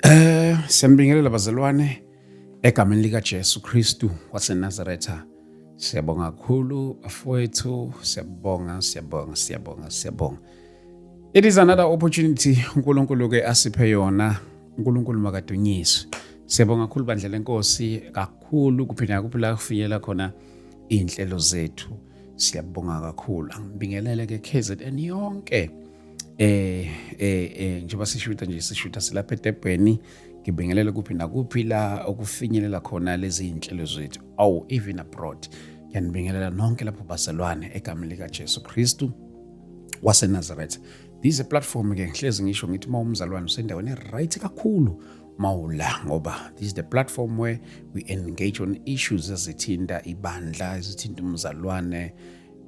Eh siyambingelela bazalwane egameni lika Jesu Kristu waseNazaretha. Siyabonga kakhulu bafowethu, siyabonga, siyabonga, siyabonga, siyabonga. It is another opportunity uNkulunkulu ke asiphe yona. uNkulunkulu makadunyiswe. Siyabonga kakhulu bandla lenkosi kakhulu kuphinda kuphila kufinyela khona inhlelo zethu. Siyabonga kakhulu. Angibingelele ke KZN yonke. eh eh eh njengoba sishuta nje sishuta silapha eDebheni ngibingelela kuphi nakuphi la okufinyelela khona lezi zinhlelo zethu awu even abroad ngiyanibingelela nonke lapho baselwane egameni lika Jesu Kristu waseNazareth this is a platform ke ngihlezi ngisho ngithi uma umzalwane usendaweni right kakhulu mawula ngoba this is the platform where we engage on issues ezithinta ibandla ezithinta umzalwane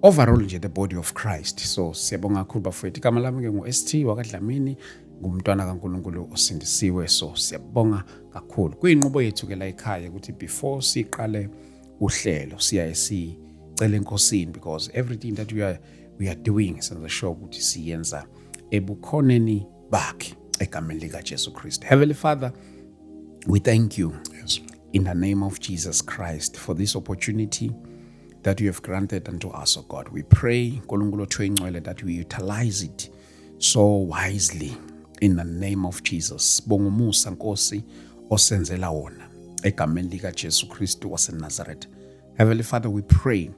overall nje the body of christ so siyabonga kakhulu bafowethu igama lami-ke ngu-st wakadlamini ngumntwana kankulunkulu osindisiwe so siyabonga kakhulu kuyinqubo yethu-ke la ekhaya ukuthi before siqale uhlelo siyaye sicele enkosini because everything that we are, we are doing senza sure ukuthi siyenza ebukhoneni bakhe egameni likajesu kristu heavenly father we thank you yes. in the name of jesus christ for this opportunity that you have granted unto us, O oh God. We pray, Nkulunkulu Thwengcwele, that we utilize it so wisely in the name of Jesus. Bongumusa Nkosi osenzela wona egameni lika Jesu Kristu waseNazareth. Heavenly Father, we pray,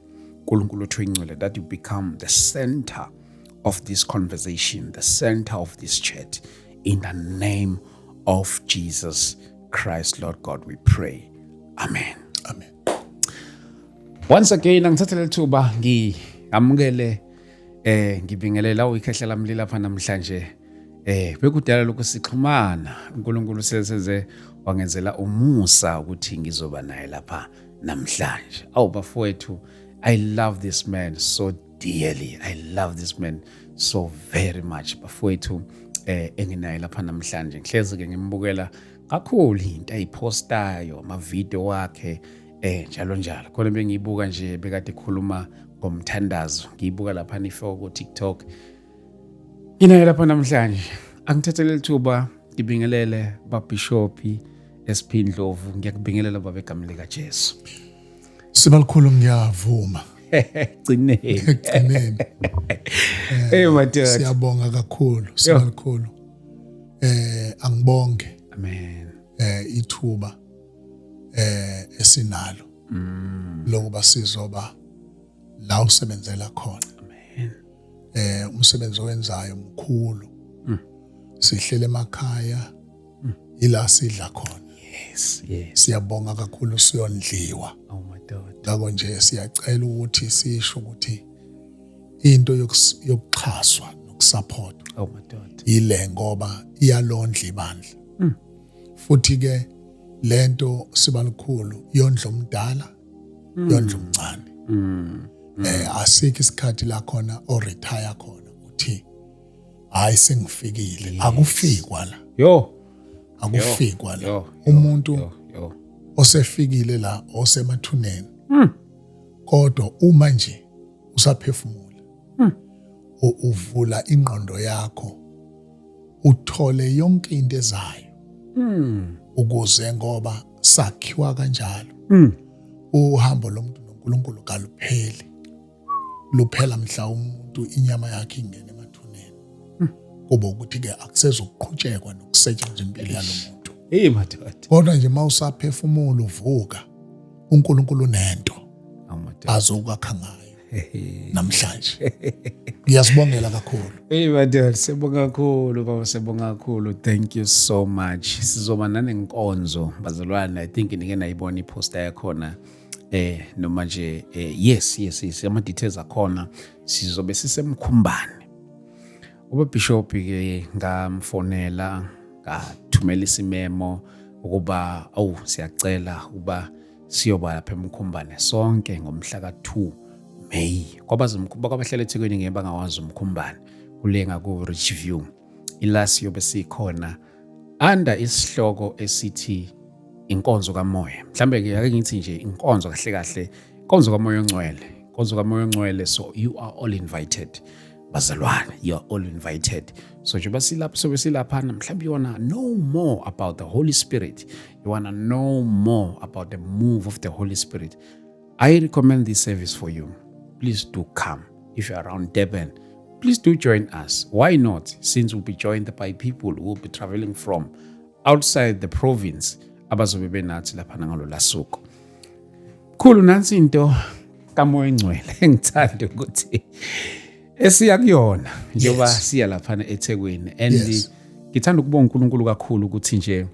Nkulunkulu Thwengcwele, that you become the center of this conversation, the center of this chat in the name of Jesus Christ, Lord God, we pray. Amen. Amen. Once again angithathe lethuba ngiamukele eh ngibingelela uyikhehla lamli lapha namhlanje eh bekudala lokho sixhumana uNkulunkulu sesenze wangenzela umusa ukuthi ngizoba naye lapha namhlanje awu bafowethu i love this man so dearly i love this man so very much bafowethu eh enginaye lapha namhlanje ngihlezi ke ngimbukela kakhulu into ayiphostayo amavidiyo wakhe eh njalo njalo khona bengiyibuka nje bekade khuluma ngomthandazo ngiyibuka lapha nifo ku TikTok nginayo lapha namhlanje angithathele lithuba ngibingelele babishopi esiphindlovu ngiyakubingelela baba egameni lika Jesu sibalikhulu ngiyavuma gcineni gcineni eh madoda siyabonga kakhulu sibalikhulu eh angibonge amen eh ithuba eh esinalo mm. lokuba sizoba la usebenzela khona amen eh umsebenzi owenzayo mkhulu mm. sihlele emakhaya mm. ila sidla khona yes yes siyabonga kakhulu siyondliwa oh my god ngakho nje siyacela ukuthi sisho ukuthi into yokuxhaswa nokusapotwa oh, yile ngoba iyalondla ibandla mm. futhi ke lento siba likhulu yondla omdala mm. yondla omncane mm. eh asikho isikhathi la khona o retire khona uthi hayi sengifikile akufikwa la yo akufikwa la umuntu osefikile la osemathuneni mm. kodwa uma nje usaphefumula hmm. uvula ingqondo yakho uthole yonke into ezayo hmm. ukuze ngoba sakhiwa kanjalo hmm. uhambo lomuntu noNkulunkulu kalupheli luphela mhla umuntu inyama yakhe ingene emathuneni kuba ukuthi ke akusezokuqhutshekwa nokusetshenzwa impilo yalomuntu hey madoda kodwa nje mawusaphefumula uvuka uNkulunkulu unento azokwakha ngayo namhlanje ngiyazibongela kakhulu hey madoda sibonga kakhulu baba sibonga kakhulu thank you so much sizoba nanenkonzo bazalwane i think nike nayibona iposta yakhona eh noma nje eh, yes yes yes ama details akhona sizobe sisemkhumbane ubabhishobhi-ke ngamfonela ngathumela isimemo ukuba awu siyacela ukuba siyoba lapha emkhumbane sonke ngomhla ka-2 may kwabazimkhumba kwabahlala ethekwini ngeke bangawazi umkhumbane kule ngaku-rich view ilasi yobe sikhona under isihloko esithi inkonzo kamoya mhlambe ke ake ngithi nje inkonzo kahle kahle inkonzo kamoya ongcwele inkonzo kamoya ongcwele so you are all invited bazalwane you are all invited so njengoba silapha sobe silaphana mhlawumbe you wanna know more about the holy spirit you wanna know more about the move of the holy spirit i recommend this service for you please do come if you're around durban please do join us why not since we'll be joined by people who will be traveling from outside the province abazobe benathi laphana ngalo lasuku khulu nansi into kamoya engcwele engithanda ukuthi esiya kuyona njengoba yes. siya laphana eThekwini and yes. ngithanda ukubonga uNkulunkulu kakhulu ukuthi nje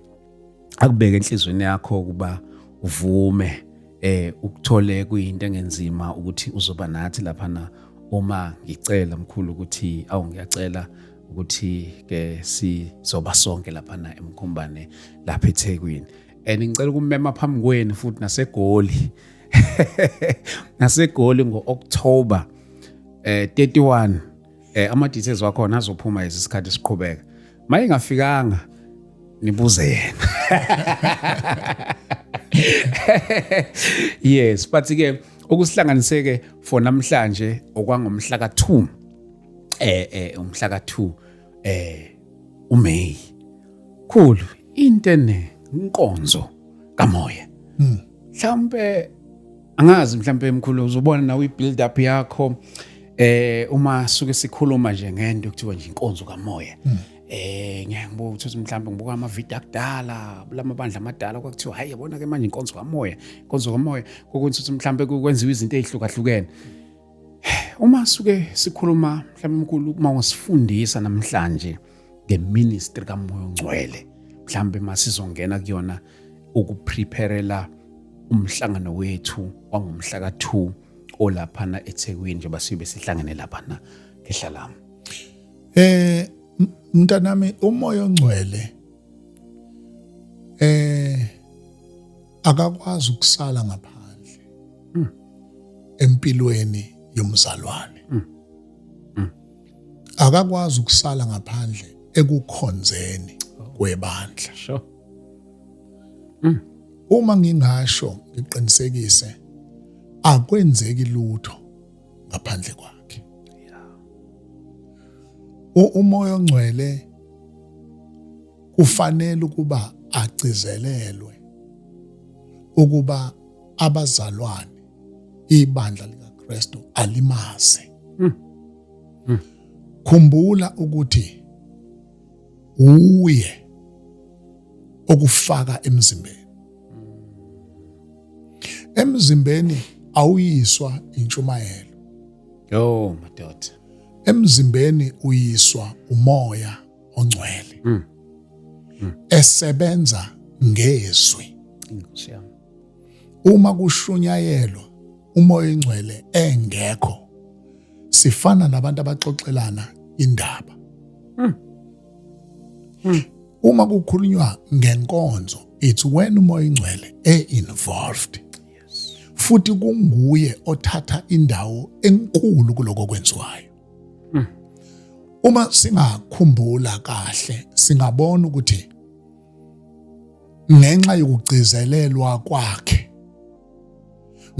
akubeke enhlizweni yakho ukuba uvume eh ukuthole kuyinto engenzima ukuthi uzoba nathi lapha na uma ngicela mkhulu ukuthi awu ngiyacela ukuthi ke sizoba sonke lapha na emkhombane lapha eThekwini and ngicela ukumema phambi kwenu futhi nasegoli naseGoli ngo-October eh 31 eh ama details wakhona azophuma isikhathi siqhubeka maye ngafikanga nibuze yena yes but ke okusihlanganiseke for namhlanje okwangomhla ka2 eh eh umhla ka2 eh uMay khulu intene inkonzo kamoya hmm. mhlawumpe angazi mhlawumpe mkhulu uzobona nawe i-build up yakho eh uma suke sikhuluma nje ngento kuthiwa nje inkonzo kamoya hmm. eh ngeke ngibuka ukuthi mhlawumbe ngibuka ama video akudala kulama bandla amadala kwakuthiwa hayi yabona ke manje inkonzo kamoya inkonzo kamoya kokunye ukuthi mhlawumbe kwenziwa izinto ezihlukahlukene uma suke sikhuluma mhlawumbe mkhulu uma wasifundisa namhlanje ngeministry kamoya ongcwele mhlawumbe masizongena kuyona ukuprepherela umhlangano wethu wangomhla ka-2 olaphana eThekwini njengoba sibe sihlangene laphana ngehlalami eh mntanami umoya ongcwele eh akakwazi ukusala ngaphandle hmm. empilweni yomzalwane hmm. Hmm. akakwazi ukusala ngaphandle ekukhonzeni kwebandla sure Mm. Uma ngingasho ngiqinisekise akwenzeki lutho ngaphandle kwakhe. Umoya ongcwele kufanele ukuba agcizelelwe ukuba abazalwane ibandla likaKristu alimazi. Mm. Mm. Khumbula ukuthi uye okufaka emzimbeni emzimbeni awuyiswa intshumayelo yo madoda emzimbeni uyiswa umoya ongcwele mm. Mm. esebenza ngezwi Uma kushunyayelwa umoya ingcwele engekho sifana nabantu abaxoxelana indaba. Hmm. Hmm. Uma kukhulunywa ngenkonzo it's when umoya ingcwele e involved. Futhi kunguye othatha indawo enkulu kuloko kwenziwayo. Hmm. Uma singakhumbula kahle singabona ukuthi ngenxa yokugcizelelwa kwakhe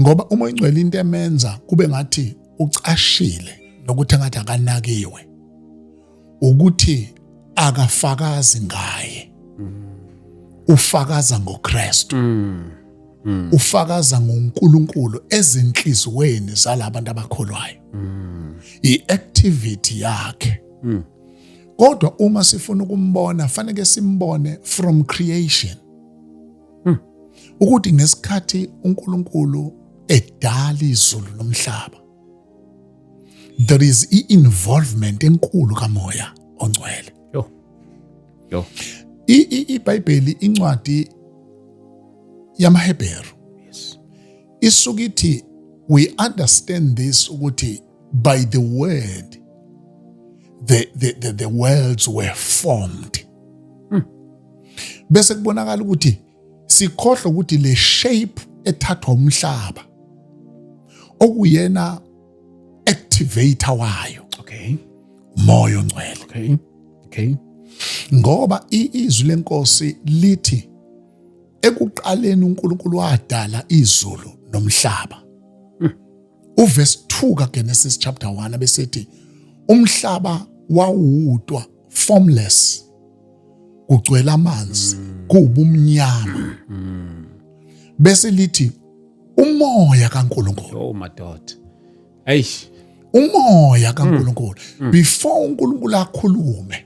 ngoba uma ingcwele into emenza kube ngathi ucashile nokuthi ngathi akanakiwe ukuthi akafakazi ngaye ufakaza ngoKristu mm. mm. ufakaza ngoNkulunkulu ezinhlizweni zalabantu abakholwayo mm. iactivity yakhe mm. kodwa uma sifuna ukumbona faneke simbone from creation hmm. ukuthi ngesikhathi uNkulunkulu edala izulu nomhlaba there is i-involvement enkulu kamoya ongcwele yo yo ibhayibheli incwadi yamaHebheru yes isuke ithi we understand this ukuthi by the word the, the, the, the worlds were formed hmm. bese kubonakala ukuthi sikhohlwa ukuthi le shape ethathwa umhlaba okuyena activator wayo okay umoya ongcwele okay okay ngoba izwi lenkosi lithi ekuqaleni uNkulunkulu wadala izulu nomhlaba Uvesi 2 kaGenesis chapter 1 abesethi umhlaba wawudwa formless kugcwela amanzi mm. kuwubumnyama mm. bese lithi umoya kaNkuluNkulu oh madoda eish umoya kaNkuluNkulu mm. before uNkuluNkulu akhulume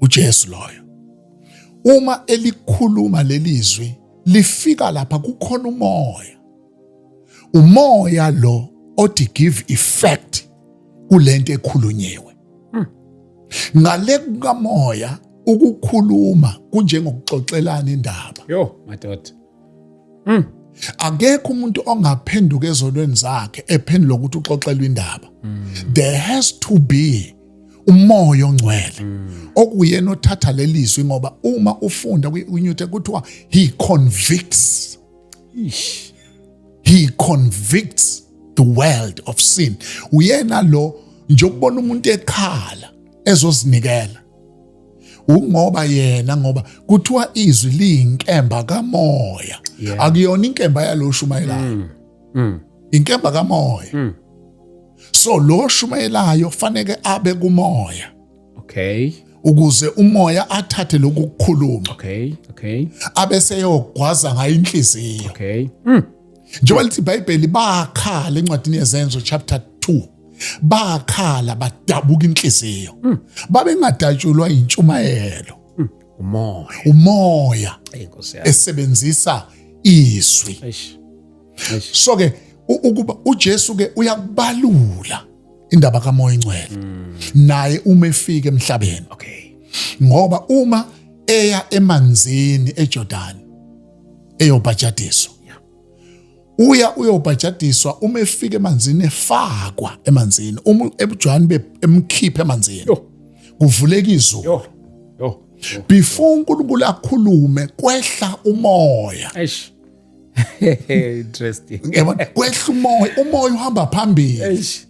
uJesu loyo uma elikhuluma lelizwi lifika lapha kukhona umoya umoya lo othi give effect kulento ekhulunyiwe hmm. ngale kukamoya ukukhuluma kunjengokuxoxelana indaba yo madoda mm. akekho umuntu ongaphenduka ezonweni zakhe ephendula ukuthi uxoxelwa indaba mm. there has to be umoya ongcwele mm. okuyena othatha lelizwi ngoba uma ufunda kwi-new kuthiwa he convicts Ish. he convicts the world of sin uyena lo njokubona umuntu ekhala ezozinikela ungoba yena ngoba kuthiwa izwi liyinkemba kamoya yeah. akuyona inkemba yalo shumayelayo mm. mm. inkemba kamoya mm. so lo shumayelayo faneke abe kumoya okay ukuze umoya athathe lokhu kukhuluma okay okay abe seyogwaza ngayo inhliziyo okay mm. njengoba lithi ibhayibheli bakhala encwadini yezenzo chapter 2 bakhala badabuka inhliziyo hmm. babengadatshulwa intshumayelo hmm. umoya umoya esebenzisa izwi so ke ukuba uJesu ke uyakubalula indaba kamoya ingcwele hmm. naye uma efika emhlabeni okay ngoba uma eya emanzini eJordan eyobhajadiswa uya uyobhajadiswa uma efika emanzini efakwa emanzini uma ebujwani bemkhipha emanzini kuvuleka izulu before uNkulunkulu akhulume kwehla umoya eish interesting yabona kwehla umoya umoya uhamba phambili eish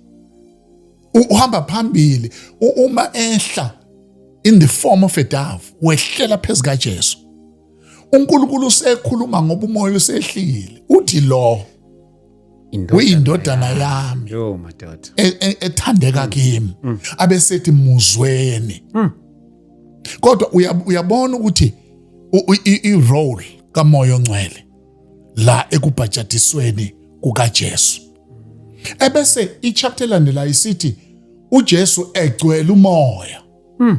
uhamba phambili uma ehla in the form of a dove wehlela phezu kaJesu uNkulunkulu usekhuluma ngoba umoya usehlile uthi lo uyindodana yami yo madoda e, e, ethandeka mm. kimi mm. abesethi muzweni mm. kodwa uyabona ukuthi i-role kamoya ongcwele la ekubhajadisweni kukaJesu ebese ichapter landela isithi uJesu egcwele umoya mm.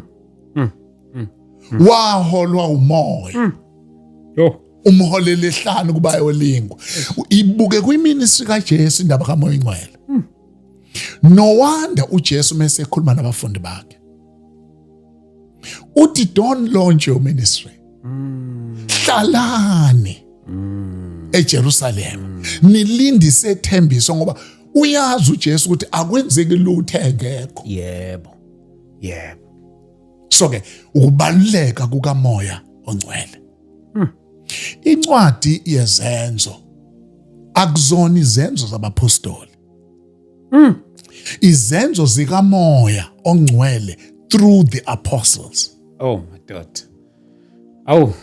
Mm. Mm. mm. waholwa umoya mm. oh. umholele ehlanu kuba yolingwa ibuke kwiministry kaJesu indaba kamoya ingcwele mm. no wonder uJesu mase ekhuluma nabafundi bakhe uthi don't launch your ministry mm. hlalani mm. eJerusalem mm. nilindise ithembiso ngoba uyazi uJesu ukuthi akwenzeki lutho engekho yebo yebo so ke ukubaluleka kukamoya ongcwele hmm. incwadi yezenzo akuzona izenzo zabaphostoli hmm. izenzo zikamoya ongcwele through the apostles oh my god awu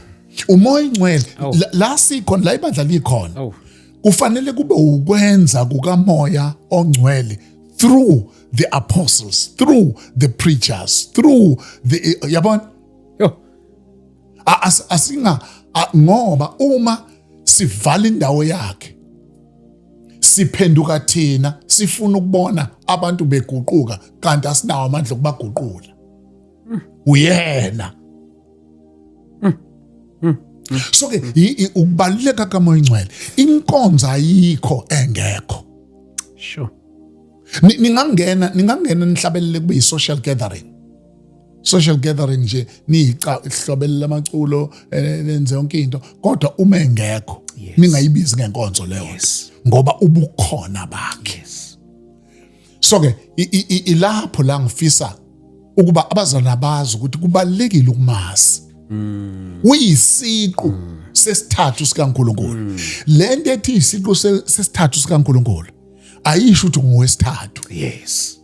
umoya ingcwele Awu. la- la sikhona la ibandla likhona awu kufanele kube ukwenza kukamoya ongcwele through the apostles through the preachers through the yabona yo A- as- asinga a- ngoba uma sivala indawo yakhe siphenduka thina sifuna ukubona abantu beguquka kanti asinawo amandla okubaguqula mm. uyena mm. Mm. so ke ukubaluleka kamoya ingcwele inkonzo ayikho engekho sure ningangena ningangena nihlabelele kube yi-social gathering social gathering nje niyica ihlobelela amaculo eh, nenze yonke into kodwa uma engekho ningayibizi ngenkonzo leyo ngoba ubukhona bakhe yes. so ke ilapho la ngifisa ukuba abazalwana bazi ukuthi kubalekile ukumazi mm. uyisiqu mm. sesithathu sikaNkuluNkulu mm. lento ethi isiqu sesithathu sikaNkuluNkulu ayisho ukuthi ngowesithathu yes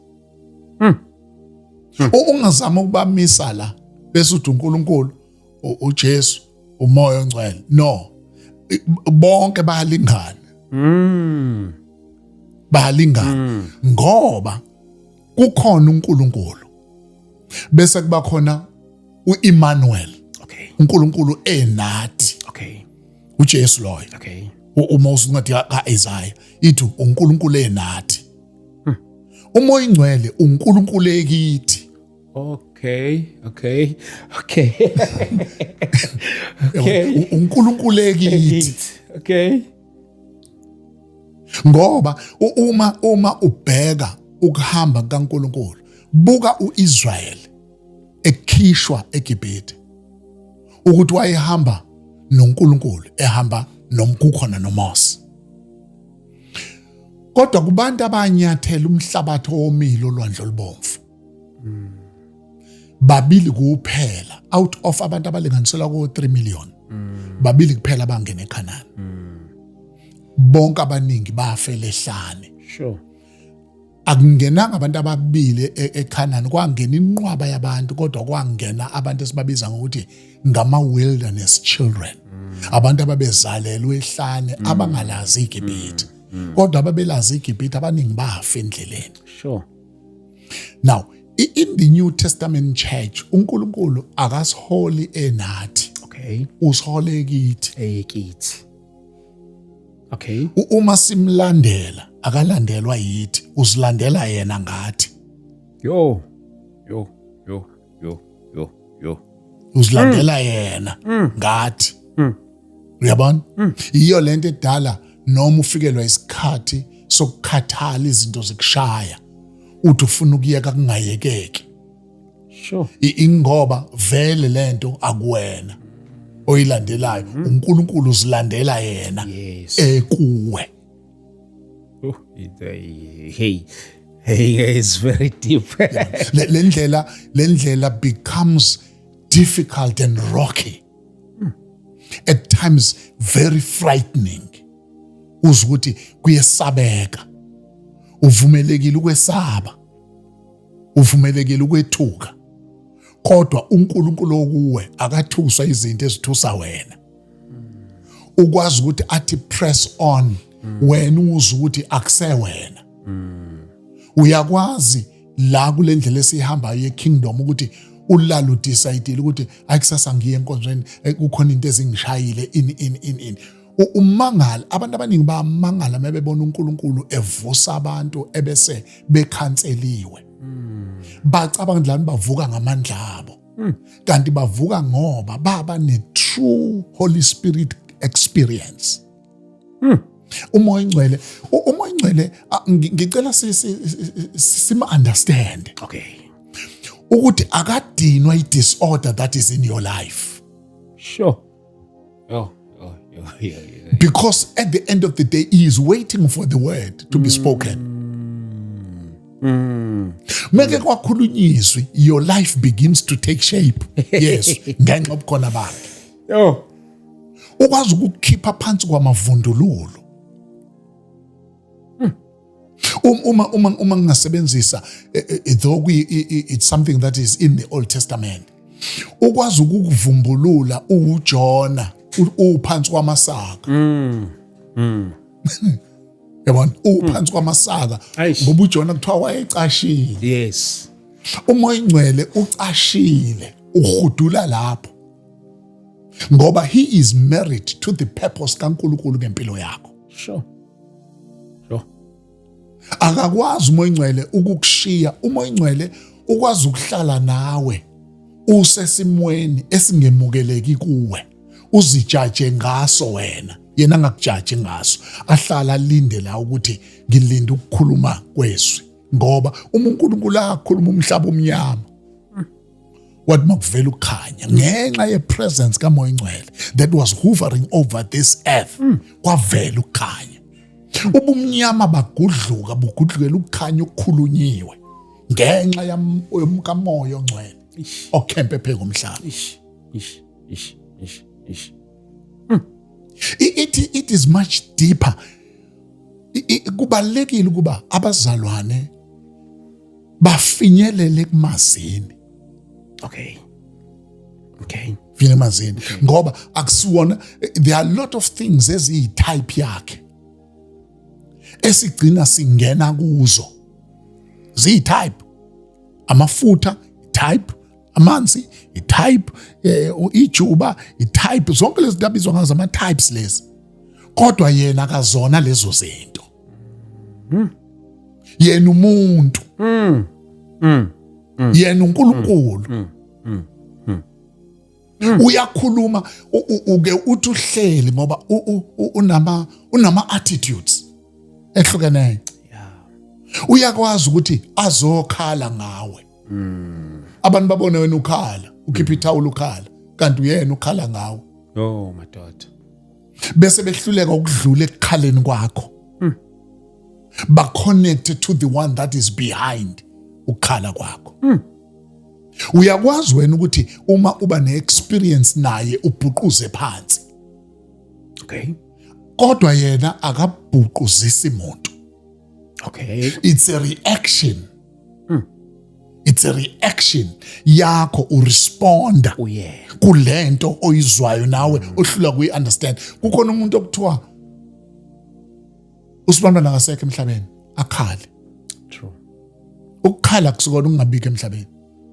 hmm. Hmm. ungazama ukubamisa la bese uthi uNkulunkulu uJesu umoya ongcwele no bonke bayalingana mm bayalingana mm. ngoba kukhona uNkulunkulu bese kuba khona uEmmanuel okay uNkulunkulu enathi okay uJesu loyo okay uma usuncwadi kaIsaiah ithi uNkulunkulu enathi hmm. umoya ingcwele uNkulunkulu ekithi Okay, okay, okay. okay. UNkulunkulu ekithi. Okay. Ngoba uma uma ubheka ukuhamba kaNkulunkulu, buka uIsrael ekhishwa eGibhithe. Ukuthi wayehamba noNkulunkulu, ehamba nomkukhona noMose. Kodwa kubantu abanyathela umhlabathi owomile olwandle olubomvu. mm. babili kuphela out of abantu abalinganiselwa ko 3 million mm. babili kuphela bangena eKhanani mm. bonke abaningi bafele ehlane sure akungenanga abantu ababili e-, eKhanani kwangena inqwaba yabantu kodwa kwangena abantu esibabiza ngokuthi ngama wilderness children abantu ababezalelwe ehlane mm. abangalazi iGibhithe mm. mm. kodwa ababelazi iGibhithe abaningi bafa endleleni sure now in the new testament church unkulunkulu akasiholi enathi okay usihole kithi ekithi okay uma simlandela akalandelwa yithi usilandela yena ngathi yo yo yo yo yo yo uzilandela mm. yena mm. ngathi mm. uyabona iyo lento edala noma ufikelwa isikhathi sokukhathala izinto zikushaya uthi ufuna ukuyeka kungayekeki sure ingoba vele lento akuwena oyilandelayo uNkulunkulu uzilandela yena ekuwe Oh, hey hey it's very deep le ndlela le ndlela becomes difficult and rocky hmm. at times very frightening uzwa ukuthi kuyesabeka uvumelekile ukwesaba uvumelekile ukwethuka kodwa uNkulunkulu okuwe akathuswa izinto ezithusa wena ukwazi ukuthi athi press on wena uze ukuthi akusewena uyakwazi la kule ndlela esihambayo yekingdom ukuthi ulala udecide ukuthi ayikusasa ngiye enkonzweni eh, kukhona into ezingishayile in in in in umangala abantu abaningi bamangala mebebona uNkulunkulu evusa abantu ebese bekhanseliwe bacabanga ukuthi lani bavuka ngamandla abo hmm. kanti bavuka ngoba baba ne-true holy spirit experience hmm. umoya ingcwele umoya ingcwele ngicela sima-understande okay ukuthi akadinwa i-disorder that is in your life sure Oh, oh, oh, yeah, yeah. Because at the end of the day, he is waiting for the word to be spoken. Mm. Mm. meke kwakhulunywa izwi your life begins to take shape yes ngenxa obukhona bakhe yo ukwazi ukukhipha phansi kwamavundululo Um, uma uma uma ngingasebenzisa eh, eh, eh, though it's something that is in the Old Testament ukwazi ukukuvumbulula uJona uphansi kwamasaka mm mm yabona uphansi kwamasaka ngoba uJona kuthiwa wayecashile yes uma oyingcwele ucashile uhudula lapho ngoba he is married to the purpose kaNkuluNkulu ngempilo yakho sure lo akakwazi umoya ingcwele ukukushiya umoya ingcwele ukwazi ukuhlala nawe usesimweni esingemukeleki kuwe uzijaje ngaso wena yena angakujaji ngaso ahlala alinde la ukuthi ngilinde ukukhuluma kwezwi ngoba uma uNkulunkulu akhuluma umhlaba omnyama wathi makuvela ukukhanya ngenxa yepresence kamoya ingcwele that was hovering over this earth hmm. kwavela ukukhanya ubumnyama bagudluka bugudlukela ukukhanya okukhulunyiwe ngenxa yomkamoya ongcwele okhempe pheko umhlaba hmm. it, it is much deeper kubalekile ukuba abazalwane bafinyelele kumazini okay okay vile mazini ngoba akusiwona there are a lot of things eziyi type yakhe esigcina singena kuzo ziyi type amafutha type amanzi itype eh, ijuba itype zonke lezi ndabizwa ngazo ama types lezi kodwa yena akazona lezo zinto mm. yena umuntu mm. Mm. Mm. yena uNkulunkulu mm. Mm. Mm. Mm. uyakhuluma uke uthi uhleli ngoba unama unama attitudes ehlukeneyo uyakwazi ukuthi azokhala ngawe mm. abantu babone wena ukhala ukhipha ithawula ukhala kanti uyena ukhala ngawe oh madoda bese behluleka ukudlula ekukhaleni kwakho hmm. ba connect to the one that is behind ukukhala kwakho hmm. uyakwazi wena ukuthi uma uba ne experience naye ubhuquze phansi okay kodwa yena akabhuquzisi muntu okay it's a reaction it's a reaction yakho uresponda kulento oyizwayo nawe ohlula kuyi-understand kukhona umuntu okuthiwa usibantwana akasekho emhlabeni akhale ukukhala kusukona ukungabikho emhlabeni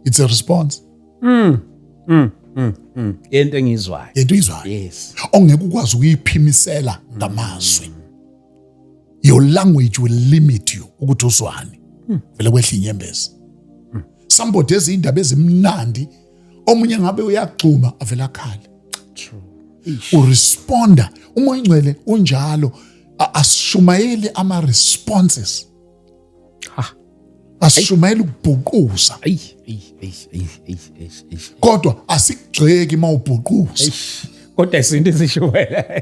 it's a response mm. Mm. Mm. Mm. into engiyizwayo into oyizwayo yes ongeke ukwazi ukuyiphimisela ngamazwi mm. your language will limit you ukuthi uzwani hmm. vele kwehla inyembezi hmm. somebody ezindaba ezimnandi omunye ngabe uyagxuma avela akhale true uresponda uma ingcwele unjalo asishumayeli ama responses ha asishumayela ukubhuquza ayi ayi ayi ayi ayi kodwa asikugxeki mawubhuquza kodwa isinto esishumayela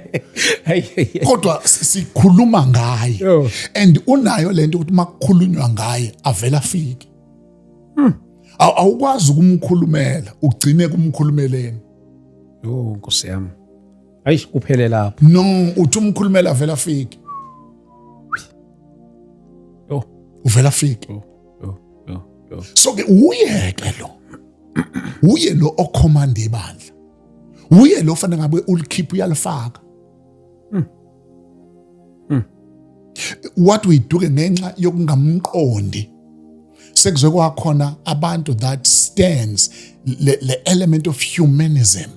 kodwa sikhuluma ngaye oh. and unayo lento ukuthi makukhulunywa ngaye avela afike hmm. awukwazi ukumkhulumela ugcine kumkhulumeleni oh nkosi yami ayish kuphele lapho no uthi umkhulumela vele afike yo uvela afike yo yo yo so ke uye ke lo uye lo okhomanda ibandla uye lo fanele ngabe ulikhipha uyalifaka hmm. Hmm. what we do ngenxa yokungamqondi sekuze kwakhona abantu that stands le, le element of humanism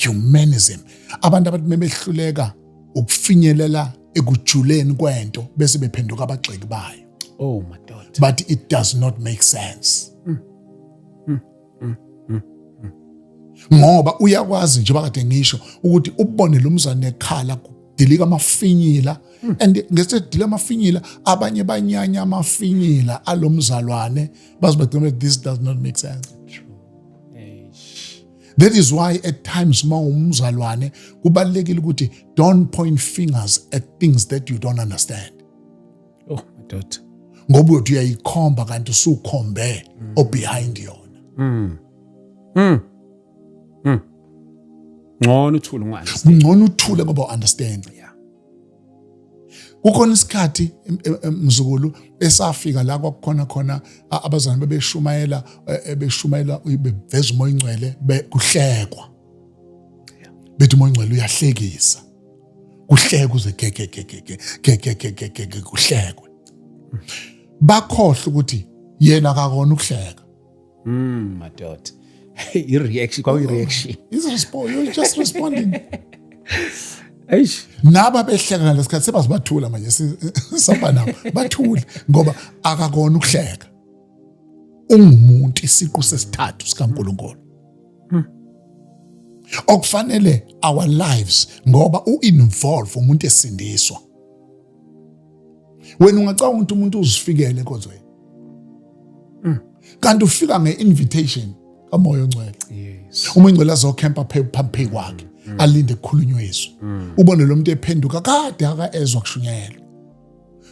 humanism abantu abathi mebehluleka ukufinyelela ekujuleni kwento bese bephenduka abagxeki bayo oh madoda but it does not make sense mm. Mm. Mm. mm. mm. ngoba uyakwazi nje bakade ngisho ukuthi ubone lo mzane ekhala dilika amafinyila hmm. and ngesedila amafinyila abanye banyanya amafinyila alomzalwane bazibagcina this does not make sense That is why at times uma umzalwane kubalekile ukuthi don't point fingers at things that you don't understand. Oh madoda. Ngoba uthi uyayikhomba kanti usukhombe mm. o behind yona. Mm. Mm. Mm. Ngcono uthule ngwazi. Ngcono uthule ngoba understand. Yeah. kukhona isikhathi mzukulu esafika la kwakukhona khona abazalwane bebeshumayela e, e, beshumayela beveza umoya ingcwele kuhlekwa bethi umoya ingcwele uyahlekisa kuhlekwa uze gegegegegegegegegege kuhlekwe bakhohle ukuthi yena akakona ukuhleka Mm, madoda. I-reaction kwakuyi-reaction. Is response you're just responding. Eish. Naba behleka ngalesikhathi sebazibathula manje sihamba nabo bathule ngoba akakona ukuhleka. Ungumuntu isiqu sesithathu sikaNkuluNkulu. Hmm. Okufanele our lives ngoba uinvolve umuntu esindiswa. wena ungacabanga ukuthi umuntu uzifikele ekozweni mm. kanti ufika nge-invitation kamoya ongcwele uma ingcwele azokhempa phambi kwakhe mm. alinde kukhulunywe izwi mm. ubone lo muntu ephenduka kade akaezwa kushunyayelwa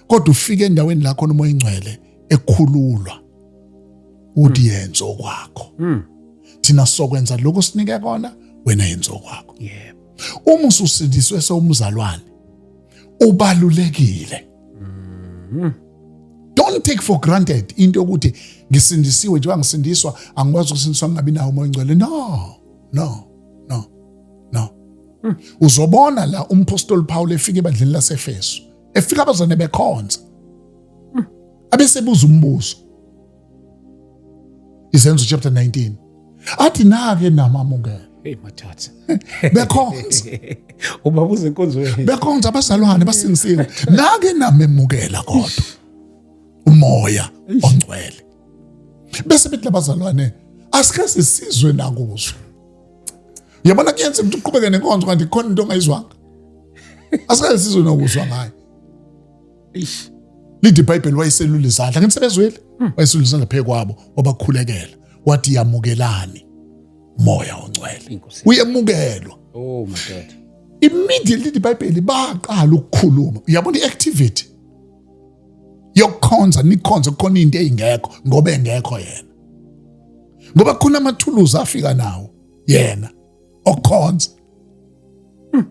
kodwa ufike endaweni la khona umoya ingcwele ekhululwa uthi yenza okwakho thina sokwenza lokho sinike kona wena yenza okwakho yebo uma ususindiswe sewumzalwane ubalulekile mm-hmm. don't take for granted into yokuthi ngisindisiwe njengoba ngisindiswa angikwazi ukusindiswa ngingabi nawo umoya ongcwele no no no no mm. uzobona la umpostoli Paul efika ebandleni laseFesu efika abazane bekhonza mm. abesebuza umbuzo izenzo chapter 19 athi nake namamukela Hey mathatha. Bekhonza. Uba buze inkonzo yenu. Bekhonza abazalwane basinsile. Nake namemukela kodwa. Umoya ongcwele. Bese bethi labazalwane asike sisizwe nakuzo. Yabona kuyenza ukuthi uqhubeke nenkonzo kanti khona into ongayizwanga. Asike sisizwe nokuzwa ngayo. ish lindi ibhayibheli wayeselula izandla ngithi sebezwile hmm. wayeselula izandla phezu kwabo wabakhulekela wathi yamukelani moya ongcwele uyemukelwa oh my god immediately ibhayibheli baqala ukukhuluma uyabona iactivity yokukhonza nikhonze kukhona into eyingekho ngoba engekho yena ngoba khona amathuluzi afika nawo yena okukhonza hmm.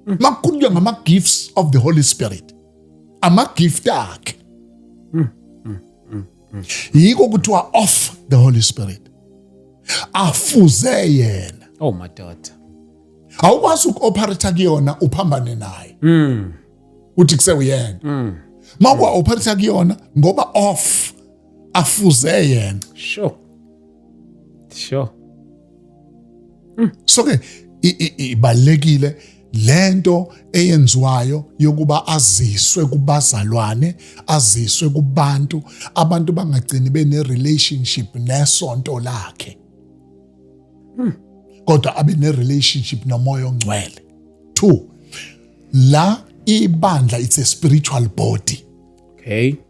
hmm. makukhulunywa ngama-gifts of the holy spirit ama-gift akhe hmm. yiko kuthiwa off the holy spirit afuze yena oh madoda awukwazi uku-operator kuyona uphambane naye mm. uthi kusewuyena mm. ma kwa-operator kuyona ngoba off afuze yena sure sure mm. so ke ibalekile lento eyenziwayo yokuba aziswe kubazalwane aziswe kubantu abantu bangagcini bene relationship nesonto lakhe hmm. kodwa abe ne relationship nomoya ongcwele 2 la ibandla it's a spiritual body okay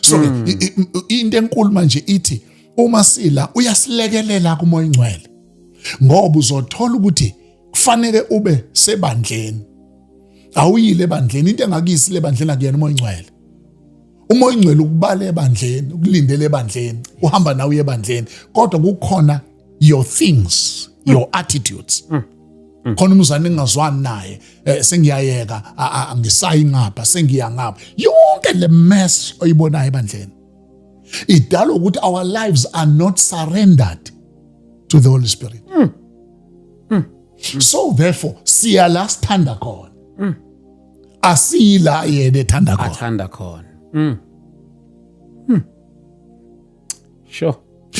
so hmm. into enkulu manje ithi uma sila uyasilekelela kumoya ingcwele ngoba uzothola ukuthi kufanele ube sebandleni awuyile ebandleni into engakuyisile ebandleni akuyena umoya ingcwele uma oyingcwele ukubala ebandleni ukulindele ebandleni uhamba nawe ebandleni kodwa kukhona your things your mm. attitudes mm. Mm. khona umzane engingazwani naye eh, sengiyayeka angisayi ngapha sengiya ngapha yonke le mess oyibonayo ebandleni idala ukuthi our lives are not surrendered to the holy spirit mm. Mm. so therefore siya la sithanda khona mm. asila yena ethanda khona athanda khona mm hmm. sure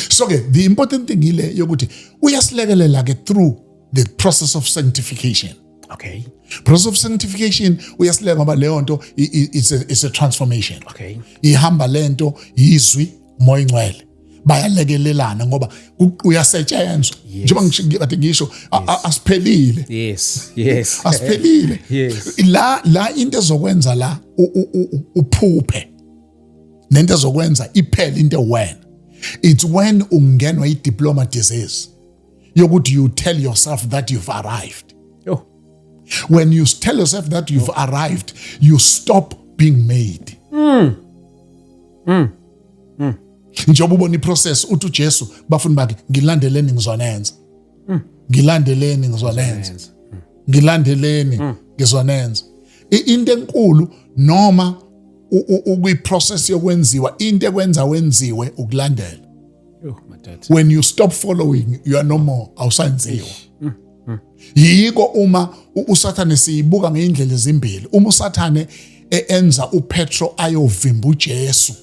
so ke the important thing ile yokuthi uyasilekelela ke through the process of sanctification okay process of sanctification uyasilekelela ngoba leyo nto it's a, it's a transformation okay ihamba lento yizwi umoya ingcwele bayalekelelana ngoba uyasetshenzwa njengoba ngishikade ngisho asiphelile yes yes asiphelile la la into ezokwenza la uphuphe nento ezokwenza iphele into wena it's when ungenwa i diploma disease yokuthi you tell yourself that you've arrived oh. when you tell yourself that you've oh. arrived you stop being made mm. mm. Mm. njengoba ubona iprocess uthi uJesu bafuni bakhe ngilandeleni ngizonenza mm. ngilandeleni ngizonenza mm. ngilandeleni mm. ngizonenza into enkulu noma ukwiprocess yokwenziwa into ekwenza wenziwe ukulandela when you stop following you are no more awusanziwa yiko uma usathane siyibuka ngeyindlela ezimbili uma usathane e-, enza upetro ayovimba ujesu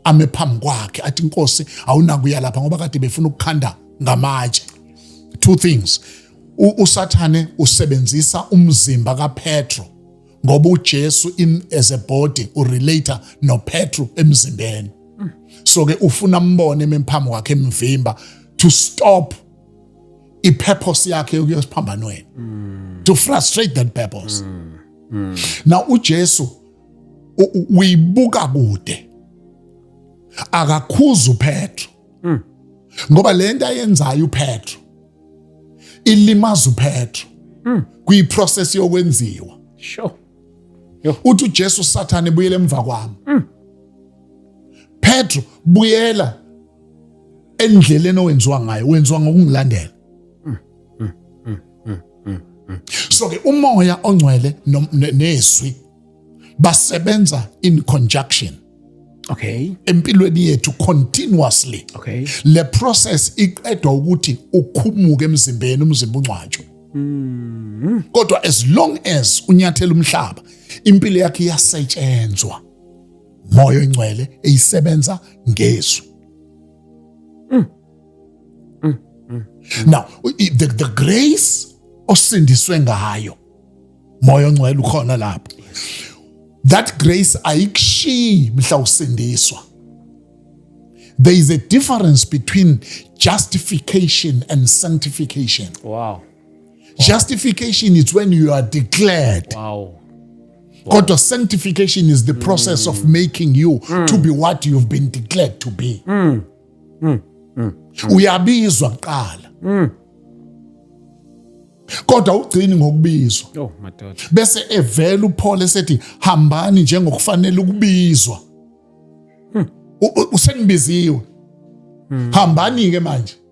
ame phambi kwakhe athi inkosi awunakuya lapha ngoba kade befuna ukukhanda ngamatshe two things usathane usebenzisa umzimba kapetro ngoba uJesu in as a body urelater noPetru emzimbeni so ke ufuna ambone emphambi wakhe emvimba to stop i-purpose yakhe yokuya esiphambanweni mm. to frustrate that purpose mm. Mm. now uJesu uyibuka kude akakhuza uPetro mm. ngoba lento ayenzayo uPetro ilimaza uPetro mm. kuyiprocess yokwenziwa sure Yo. uthi uJesu sathane buyele emva kwami mm. Petro buyela endleleni owenziwa ngayo wenziwa ngokungilandela so ke umoya ongcwele nezwi basebenza in conjunction okay empilweni yethu continuously okay le process iqedwa ukuthi ukhumuke emzimbeni umzimba ungcwatshwe mm. kodwa as long as unyathela umhlaba impilo yakhe iyasetshenzwa moya oyingcwele eyisebenza ngezwi Mm. Mm. Mm. Now the, the grace osindiswe ngayo moya ongcwele ukhona lapho. That grace ayikushiyi mhla usindiswa. There is a difference between justification and sanctification. Wow. Justification is when you are declared. Wow. God, your sanctification is the process mm. of making you mm. to be what you've been declared to be. Mm. Mm. Mm. Uyabizwa kuqala. Mm. kodwa ugcini ngokubizwa oh, bese evela uPaul esethi hambani njengokufanele ukubizwa hmm. usengibiziwe hmm. hambani ke manje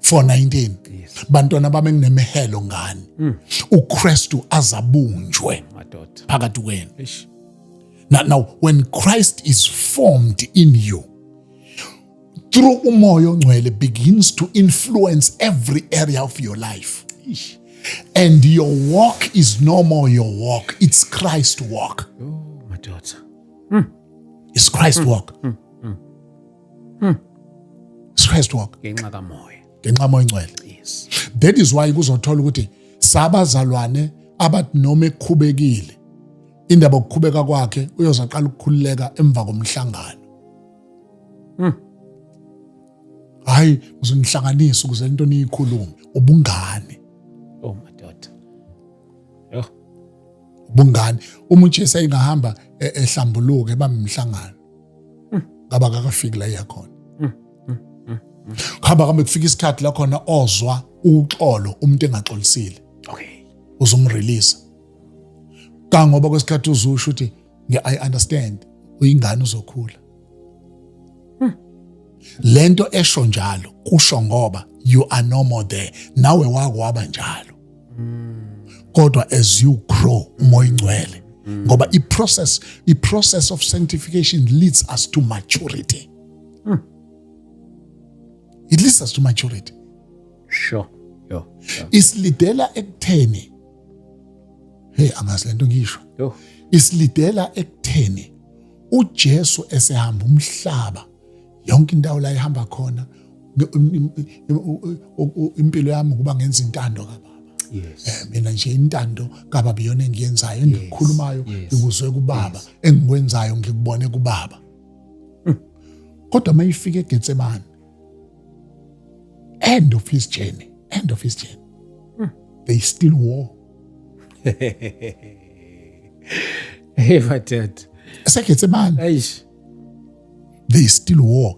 419 bantwana bami enginemehelo ngani mm. uKristu azabunjwe madoda phakathi kwenu now, now when Christ is formed in you through umoya ongcwele begins to influence every area of your life Ish. and your walk is no more your walk it's Christ walk oh madoda mm. it's Christ mm. walk mm. Hmm. Christ walk. Ngenxa kamoya. Ngenxa moya ingcwele. Yes. That is why kuzothola ukuthi sabazalwane abathi noma ekhubekile indaba okukhubeka kwakhe uyozaqala ukukhululeka emva komhlangano. Hmm. Hayi, uzonihlanganisa ukuze into niyikhulume ubungane. Oh madoda. Yoh. Ubungane. Uma uJesu ayingahamba e-, ehlambuluke bamhlangano. mm. ngaba kakafiki la iyakhona mm, mm, kuhamba kambe kufika isikhathi lakhona ozwa uxolo umuntu engaxolisile okay uzomrelease kangoba kwesikhathi uzusho ukuthi ngi-i understand uyingane uzokhula lento esho njalo kusho ngoba you are no more there nawe wakwaba njalo kodwa as you grow umoya ingcwele ngoba i-process i-process of sanctification leads us to maturity hmm. it leads us to maturity sure yo sure. isilidela ekutheni hey angazi lento ngisho yo isilidela ekutheni uJesu esehamba umhlaba yonke indawo la ihamba khona impilo yami ukuba ngenza intando kababa yes. Eh, mina nje intando kababa iyona engiyenzayo engikhulumayo ngikuzwe kubaba engikwenzayo ngikubone kubaba hmm. kodwa uma ifika egetsemane end of his journey end of his journey hmm. they still war hey madoda esegetsemane eish they still war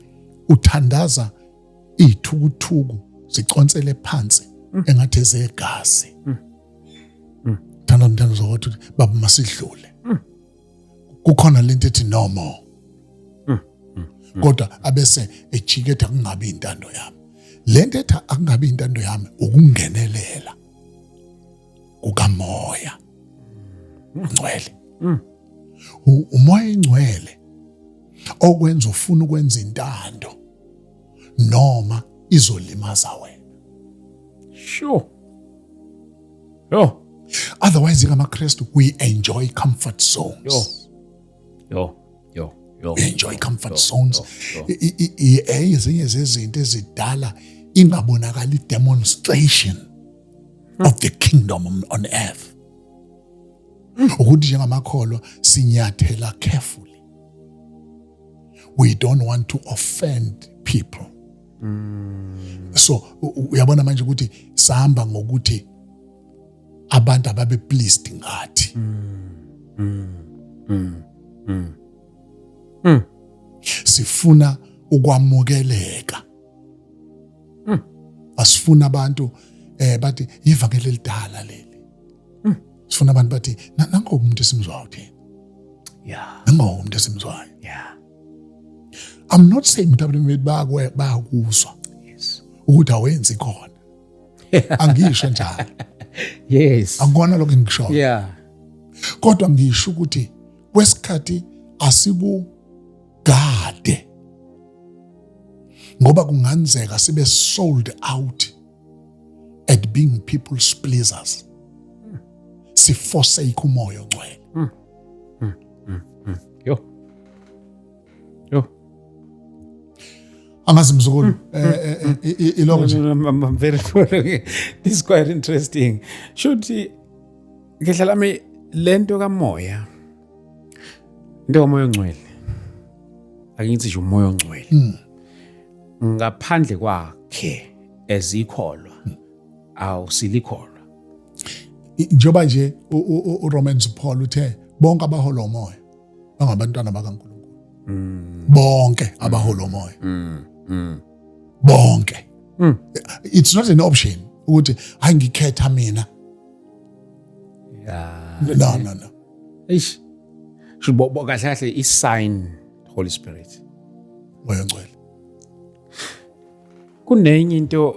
uthandaza iy'thukuthuku ziconsele phansi mm. engathi ezegazi mm. mm. thanda mthanda zokuthi baba masidlule kukhona lento ethi no more kodwa abese ejiketha kungabi intando yami lento ethi akungabi intando yami ukungenelela kukamoya ngcwele mm. umoya ingcwele okwenza ufuna ukwenza intando noma izolimaza wena sure yo otherwise ngamaKristu we enjoy comfort zones yo yo yo yo we enjoy comfort zones ezinye zezinto ezidala ingabonakali demonstration of the kingdom on earth ukuthi njengamakholwa sinyathela carefully we don't want to offend people mm. so uyabona manje ukuthi sihamba ngokuthi abantu ababe pleased ngathi mm. Mm. Mm. Mm. Mm. sifuna ukwamukeleka mm. asifuna abantu eh bathi ivangeli elidala leli mm. sifuna abantu bathi nango umuntu esimzwayo thina yeah nango umuntu esimzwayo yeah i'm not saying ukuthi abantu bethu bayakwe bayakuzwa yes ukuthi awenzi khona angisho njalo yes angikona lokho engisho yeah kodwa ngisho ukuthi kwesikhathi asiku Gade. Ngoba kunganzeka sibe sold out at being people's pleasers. Siforsake umoya ongcwele. Mm. Mm. Mm. Mm. Yo. Yo. angazi mzukulu hmm. eh, eh, hmm. eh, iloko nje i'm very following this is quite interesting shuthi ngidla lami lento kamoya into yomoya ongcwele ake ngithi nje umoya ongcwele hmm. ngaphandle kwakhe ezikholwa awusilikholwa njengoba nje uRomans Paul uthe bonke abahola umoya bangabantwana bakaNkulunkulu hmm. bonke abahola umoya hmm. bonke it's not an option ukuthi hayi ngikhetha mina Yeah. No, no, no. Eish. Shibo kahle kahle i sign Holy Spirit. Moya ngcwele. Kunenye into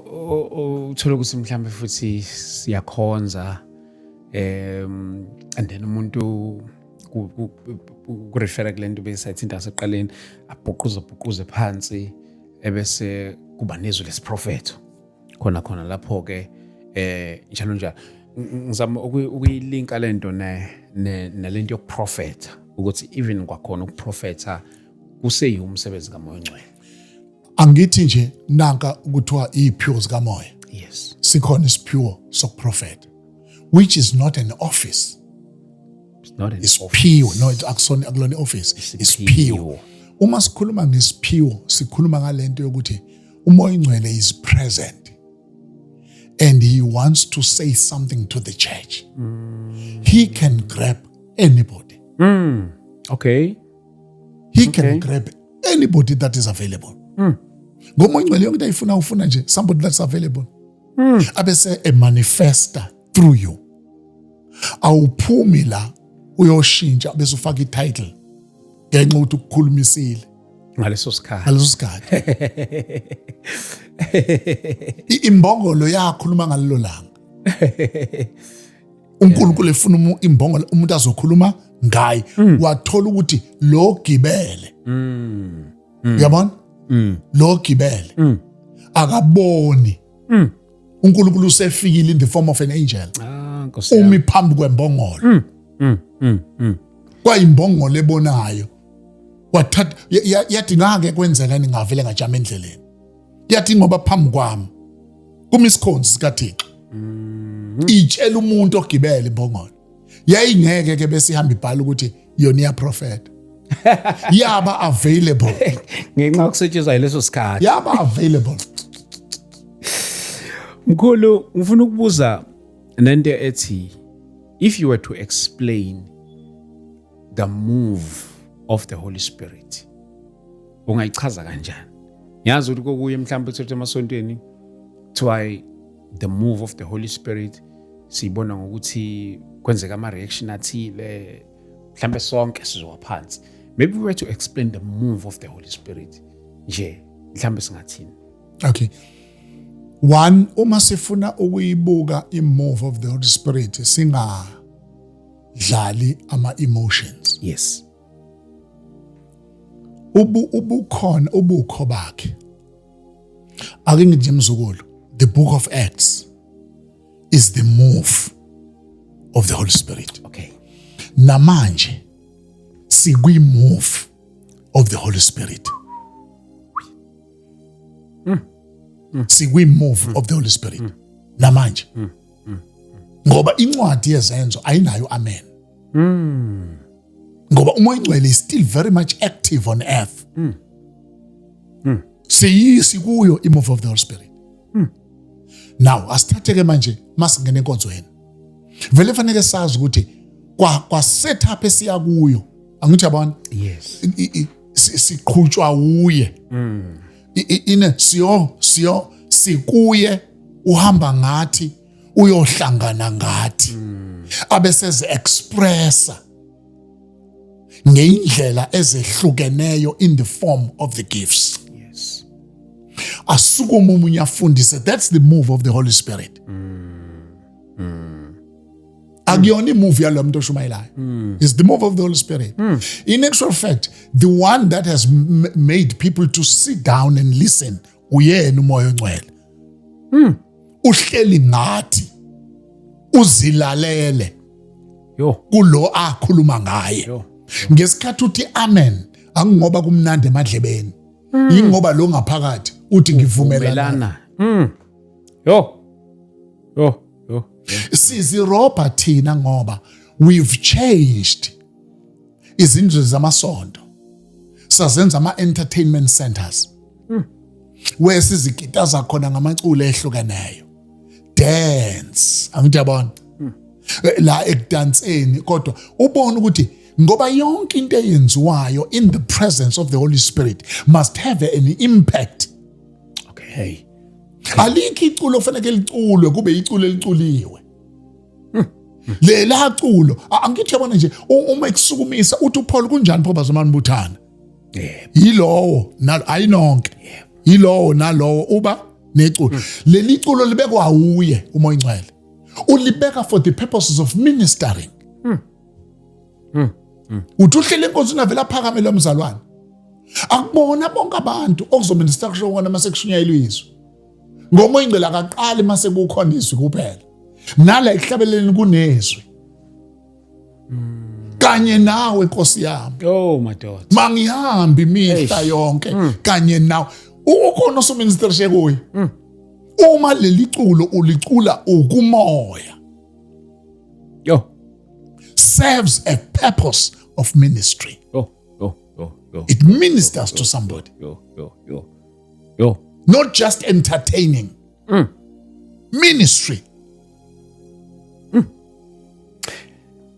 uthola ukuthi mhlambe futhi siyakhonza um and then umuntu kurefera kule nto besayithinta ngaseqaleni abhuquze bhuquze phansi ebese kuba nezwi lesiprofetho khona khona lapho ke eh njalo njalo ngizama ukuyilinka lento ne nalento yokuprofetha ukuthi even kwakhona ukuprofetha kuseyiwo umsebenzi kamoya ongcwele angithi nje nanka ukuthiwa iyiphiwo zikamoya yes sikhona isiphiwo sokuprofetha which is not an office it's not an isiphiwo no akusona akulona office isiphiwo uma sikhuluma ngesiphiwo sikhuluma ngalento yokuthi umoya ingcwele is present and he wants to say something to the church mm. he can grab anybody mm. okay he okay. can grab anybody that is available mm. ngomoya ingcwele yonke into ayifuna ufuna nje somebody that's available mm. abese emanifesta through you awuphumi la uyoshintsha bese ufaka ititle ngenxa ukuthi ukukhulumisile ngaleso sikhathi ngaleso sikhathi imbongolo yakhuluma ngalelo langa uNkulunkulu efuna imbongolo umuntu azokhuluma ngaye mm. wathola ukuthi lo gibele mm. Mm. uyabona lo gibele akaboni mm. uNkulunkulu usefikile in the form of an angel ah, umi phambi kwembongolo mm. mm. mm. mm. kwayimbongolo ebonayo wathatha yathi ngake kwenzekani ngavele ngajama endleleni yathi ngoba phambi kwami kuma isikhonzi sikathixo mm. itshela umuntu ogibele imbongolo yayingeke ke bese ihamba ibhala ukuthi yona iyaprofeta yaba available ngenxa kusetshenzwa leso sikhathi yaba available mkhulu ngifuna ukubuza nento ethi if you were to explain the move of the holy spirit ungayichaza kanjani ngiyazi ukuthi kokuye mhlawumbe uthethe emasontweni kuthiwa the move of the holy spirit siyibona ngokuthi kwenzeka ama-reaction athile mhlawumbe sonke sizowa phansi maybe we were to explain the move of the holy spirit nje mhlawumbe singathini okay one uma sifuna ukuyibuka i-move of the holy spirit singadlali ama-emotions yes ubu ubukhona ubukho bakhe ake ngithi nje mzukulu the book of acts is the move of the holy spirit okay namanje sikwi move of the holy spirit mm. Mm. sikwi move mm. of the holy spirit mm. namanje mm. mm. ngoba incwadi yezenzo ayinayo amen mm. ngoba umoya ingcwele is still very much active on earth mm. Mm. siyisi kuyo imove of the holy spirit mm. now asithatheke manje masingena enkonzweni vele fanele sazi ukuthi kwa kwa setup esiya kuyo angithi yabona yes siqhutshwa uye mm. ine siyo siyo sikuye uhamba ngathi uyohlangana ngathi hmm. abeseze expressa ngeindlela ezehlukeneyo in the form of the gifts yes asukuma umunye afundise that's the move of the holy spirit mm. Mm. akuyona imuvi yalo muntu oshumayelayo hmm. is the move of the holy spirit hmm. in actual fact the one that has made people to sit down and listen uyena umoya ongcwele hmm. uhleli ngathi uzilalele yo kulo akhuluma ngaye ngesikhathi uthi amen angingoba kumnandi emadlebeni yingoba lo ngaphakathi uthi ngivumelana yo yo oh, sizirobha thina ngoba we've changed izindlu zamasonto sazenza ama-entertainment centers hmm. where sizikitaza khona ngamaculo ehlukeneyo dance angithi yabona hmm. la ekudanseni kodwa ubona ukuthi ngoba yonke into eyenziwayo in the presence of the holy spirit must have an impact okay alikho iculo kufanele liculwe kube iculo eliculiwe lela culo angithi yabona nje uma ekusukumisa uthi uPaul kunjani pho bazomani buthana yebo yilowo nalo ayinonke yebo yilowo nalowo uba neculo hmm. leli culo libekwa uye umoya ingcwele ulibeka for the purposes of ministering mm. mm. uthi uhlele inkosi ingavele aphakame lo mzalwane akubona bonke abantu okuzomele sisakusho kona uma sekushunyayelwa izwi ngomoya ingcela akaqali uma sekukhona izwi kuphela nala ekuhlabeleleni kunezwi kanye nawe nkosi yami oh madoda mangihambi imihla yonke mm. kanye nawe ukhona osominister shekuye mm. uma leli culo ulicula ukumoya Yo. Serves a purpose of ministry. Yo, yo, yo, yo. It ministers yo, yo, to somebody. Yo, yo, yo, yo. Not just entertaining. Mm. Ministry. Mm.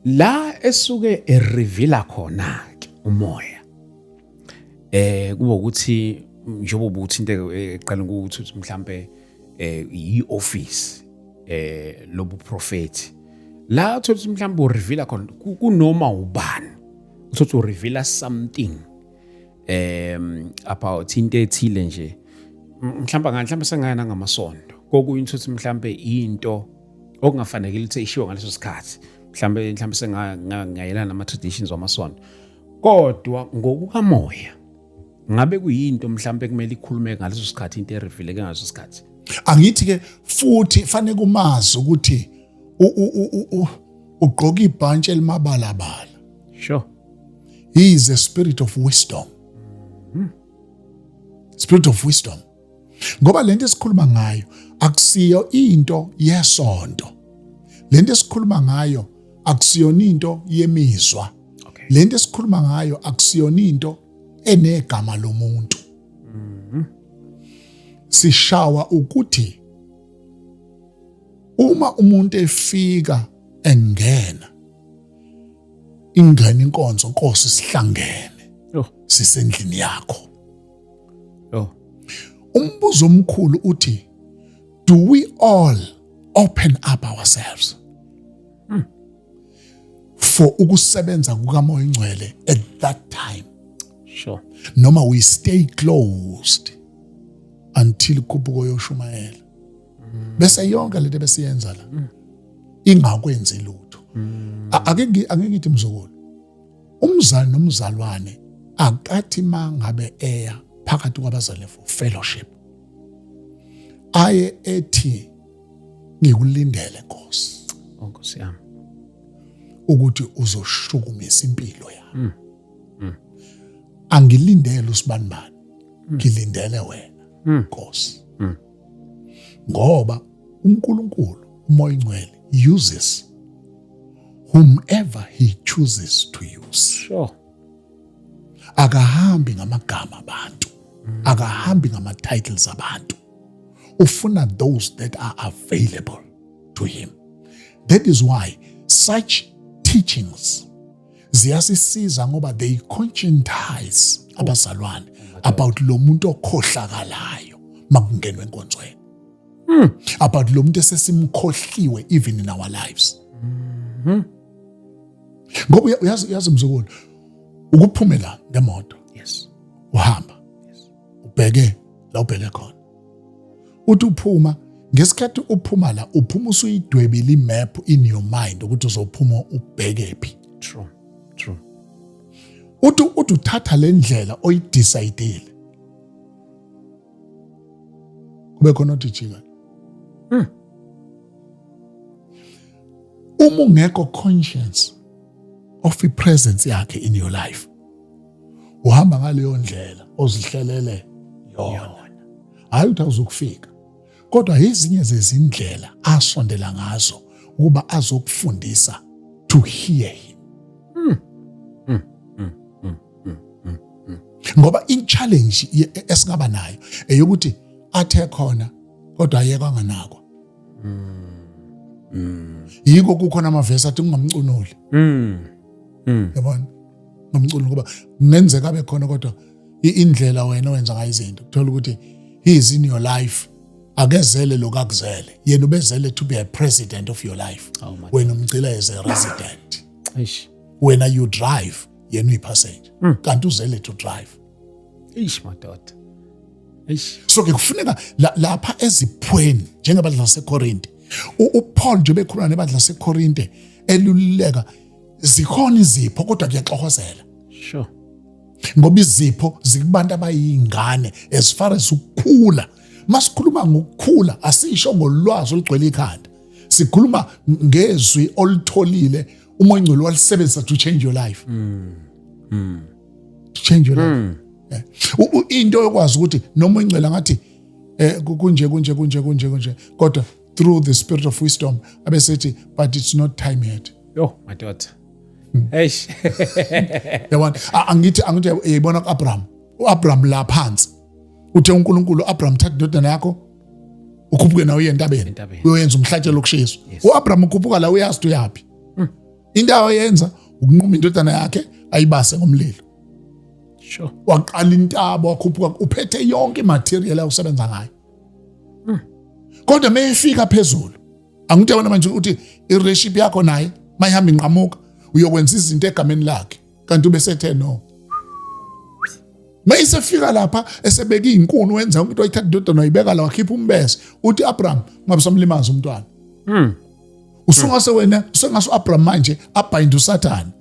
La esuke erivila khona ke umoya. Eh kuba ukuthi njengoba uthinte eqala ukuthi mhlambe eh ioffice eh lobuprofeti la uthola mhlawumbe ureveal khona kunoma ubani uthola ureveal something um about into ethile nje mhlawumbe mhlawumbe sengayena ngamasonto kokunye uthola mhlawumbe into okungafanekile ukuthi ishiwo ngaleso sikhathi mhlawumbe mhlawumbe sengayelana nama traditions wamasonto kodwa ngokukamoya ngabe kuyinto mhlawumbe kumele ikhulume ngaleso sikhathi into erifileke ngaso sikhathi angithi ke futhi fanele kumazi ukuthi ugqoka ibhantshi elimabalabala sure he is a spirit of wisdom hmm. spirit of wisdom ngoba lento esikhuluma ngayo akusiyo into yesonto lento esikhuluma ngayo akusiyona into yemizwa okay. lento esikhuluma ngayo akusiyona into enegama lomuntu mm -hmm. sishawa ukuthi uma umuntu efika engena ingena inkonzo nkosi sihlangene oh. sisendlini yakho Oh. Umbuzo omkhulu uthi do we all open up ourselves? Hmm. For ukusebenza kukaMoya Ingcwele at that time. Sure. Noma we stay closed until ikhuphuko yoshumayela. Hmm. Bese yonke lento besiyenza la. Hmm. Ingakwenzi lutho. Ake ake ngithi mzukulu Umzali nomzalwane akathi mangabe eya phakathi kwabazali for fellowship aye ethi ngikulindele Nkosi. Oh, Nkosi yami. Ukuthi uzoshukumisa impilo yami. Mm. Mm. Angilindele usibanibani. Mm. Ngilindele wena. Mm. Nkosi. Mm. ngoba uNkulunkulu umoya ingcwele uses whomever he chooses to use sure akahambi ngamagama abantu mm. akahambi ngama titles abantu ufuna those that are available to him that is why such teachings ziyasisiza ngoba they conscientize abazalwane about lo muntu okhohlakalayo makungenwe enkonzweni hmm. about lo muntu esesimkhohliwe even in our lives hmm. ngoba uyazi uyazi mzukulu ukuphumela ngemoto yes uhamba ubheke la ubheke khona uthi uphuma ngesikhathi uphuma la uphuma usuyidwebile imap in your mind ukuthi uzophuma ubheke phi true true uthi uthi uthatha le ndlela oyidecidile kube khona othi jika hmm. uma ungekho conscience of i presence yakhe in your life uhamba ngaleyo ndlela ozihlelele yona hayi ukuthi awuzokufika kodwa ezinye zezindlela asondela ngazo ukuba azokufundisa to hear him hmm. Hmm. Hmm. ngoba i-challenge esingaba nayo eyokuthi athe khona kodwa ayekwa nganakwa yiko kukhona amavesi athi ungamcunuli mm. mm. yabona ungamcunuli ngoba kungenzeka abe khona kodwa indlela wena wenza ngayo izinto kuthola ukuthi he is in your life akezele lokakuzele yena ubezele to be a president of your life oh wena umgcila as a resident wena you drive yena uyipassenger mm. kanti uzele to drive eish madoda eish so ke kufuneka lapha eziphweni njengabadla basekorinte upaul nje bekhuluma nebadla basekorinte elululeka zikhona izipho kodwa kuyaxokozela sure ngoba izipho zikubantu abayingane as far as ukukhula masikhuluma ngokukhula asisho ngolwazi olugcwele ikhanda sikhuluma ngezwi olitholile uma ingcwele walisebenzisa to change your life mm. Mm. to change your life mm. yeah. into yokwazi ukuthi noma ingcela ngathi eh kunje kunje kunje kunje kunje kodwa through the spirit of wisdom abesethi but it's not time yet yo my daughter hmm. eish yabona angithi angithi yayibona kuAbraham uAbraham la phansi uthe uNkulunkulu uAbraham thatha indodana yakho ukhuphuke nawe uye entabeni uyoyenza umhlatshelo lokushiswa uAbraham ukhuphuka la uyazi uyapi into ayenza ukunquma indodana yakhe ayibase ngomlilo sure waqala intaba wakhuphuka uphethe yonke imaterial awusebenza ngayo hmm. kodwa meyifika phezulu angithe wena manje uthi ireship yakho naye mayihamba inqamuka uyokwenza izinto egameni lakhe kanti ubesethe no mayisefika lapha esebeka izinkuni wenza umuntu wayithatha indodana wayibeka la wakhipha umbese uthi Abraham ngabe somlimaza umntwana mhm usungase wena usengase uAbraham manje abhayinde uSathane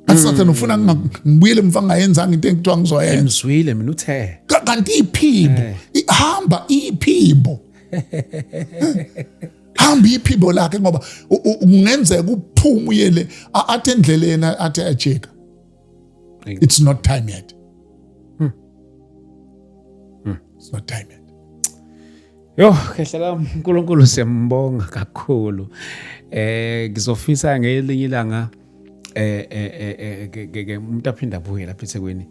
asathane hmm. ufuna ngibuyele mfa ngayenzanga into engithiwa ngizoyenza ngizwile mina uthe kanti iphimbo eh. ihamba iphimbo hamba iphimbo lakhe ngoba kungenzeka uphume uyele athi endleleni athi ajika it's not time yet hmm. Hmm. it's not time yet Yo khehla lami uNkulunkulu siyambonga kakhulu. Eh ngizofisa ngelinye ilanga eh eh eh, eh ke umuntu aphinda abuye lapha eThekwini.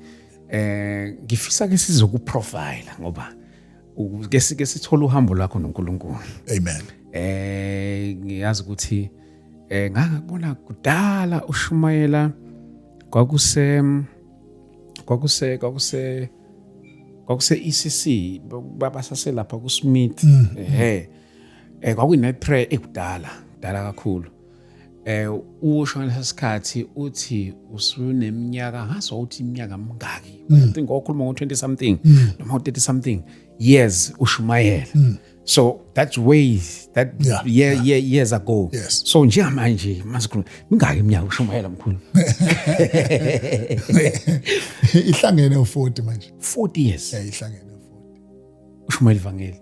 Eh ngifisa ke sizokuprofile ngoba ke sike sithola uhambo lwakho noNkulunkulu amen eh ngiyazi ukuthi eh ngangakubona kudala ushumayela kwakuse kwakuse kwakuse kwakuse ECC babasase lapha ku Smith mm. ehe eh kwakuyi night prayer ekudala dala kakhulu eh usho ngesikhathi uthi usuneminyaka ngaso uthi iminyaka mingaki i mm. think okhuluma ngo 20 something mm. noma 30 something years ushumayela mm. so that's ways that yeah, year, yeah. year years ago yes. so njengamanje masikhuluma mingaki iminyaka ushumayela mkhulu ihlangene u40 manje 40 years yeah ihlangene u40 ushumayela ivangeli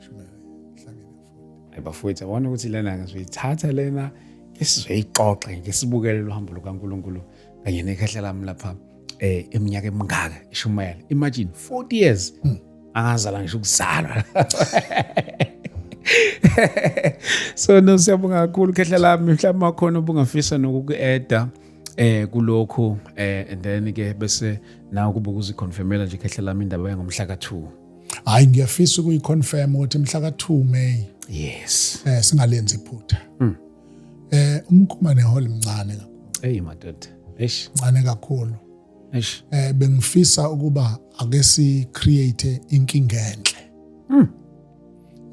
Hayi bafowethu yabona ukuthi lena ngizoyithatha lena ke sizoyixoxa ngeke sibukele lo hambo lukaNkuluNkulu kanye nekhehla lami lapha eh eminyaka emingaka ishumayela imagine 40 years hmm. angazala ngisho ukuzalwa so no siyabonga kakhulu khehla lami mhlawumbe wakhona ubungafisa nokuku-eda eh kulokhu eh and then ke bese nawe kube ukuziconfirmela nje khehla lami indaba yangomhla ka-2 hayi ngiyafisa ukuyiconfirm ukuthi mhla ka-2 May yes eh singalenzi iphutha mm. eh umkhuma nehole mncane kakhulu hey madoda eish mncane kakhulu eish eh bengifisa ukuba ake si create inkinga enhle mm.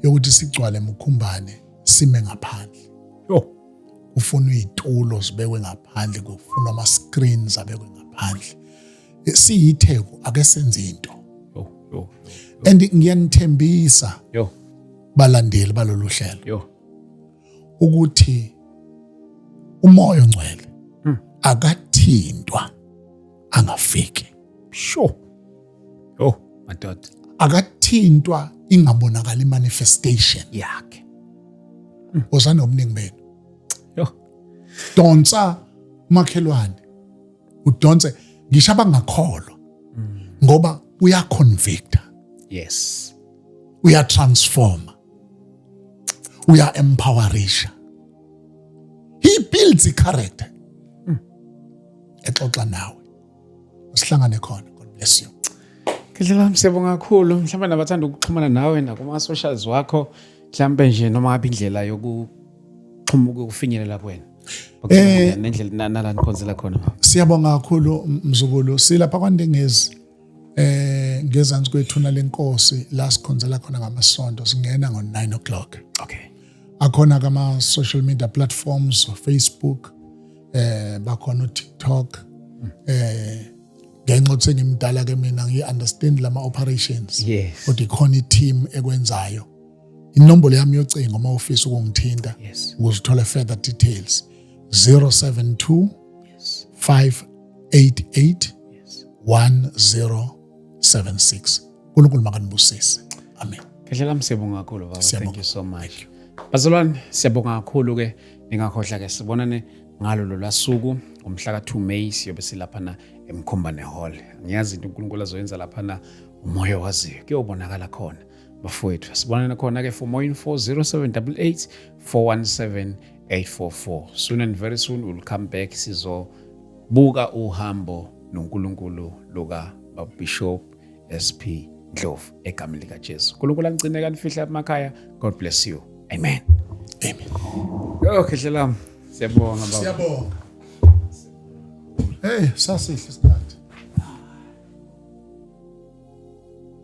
yokuthi sigcwale mukhumbane sime ngaphandle yo kufunwa izitulo zibekwe ngaphandle kufunwa ama screens abekwe ngaphandle siyitheku ake senze into and ngiyanithembisa balandeli balolu hlelo ukuthi umoya ongcwele hmm. akathintwa angafiki sure oh madoda akathintwa ingabonakala imanifestation yakhe hmm. uzana omningi benu donsa makhelwane udonse ngisho abangakholwa ngoba uyaconvicta yes uyatransforma uya-empowerisha he builds i-character mm. exoxa nawe usihlangane khona god bless you ngidlela msebo kakhulu mhlawumbe nabathanda ukuxhumana nawe nakuma-socials wakho mhlawumbe nje noma ngabe indlela yokuxhuma ukufinyelela kwena eh nendlela nala nikhonzela khona siyabonga kakhulu mzukulu silapha kwandengezi eh ngezansi kwethuna lenkosi la sikhonzela khona ngamasonto singena ngo 9 o'clock okay akhona kama social media platforms Facebook eh bakhona uTikTok hmm. eh ngenxa ukuthi ngimdala ke mina ngi understand lama operations yes kodwa ikhona i team ekwenzayo inombolo yami yocingo uma ufisa ukungithinta yes. uzithole further details 072 yes. 588 yes. 1076 unkulunkulu makanibusise amen ngehlela msiyabonga kakhulu baba thank you so much bazalwane siyabonga kakhulu ke ningakhohlwa ke sibonane ngalo lolasuku ngomhla ka-2 May siyobe silaphana emkhombane hall ngiyazi into uNkulunkulu azoyenza laphana umoya waziyo kuyobonakala khona bafowethu sibonana khona-ke for more info 0788 417 844 soon and very soon we'll come back sizobuka uhambo nonkulunkulu luka babishop sp ndlovu egameni likajesu nkulunkulu anicine kanifihla emakhaya god bless you amen amen yo khehle lam siyabonga baba siyabonga hey sasihle isikhathi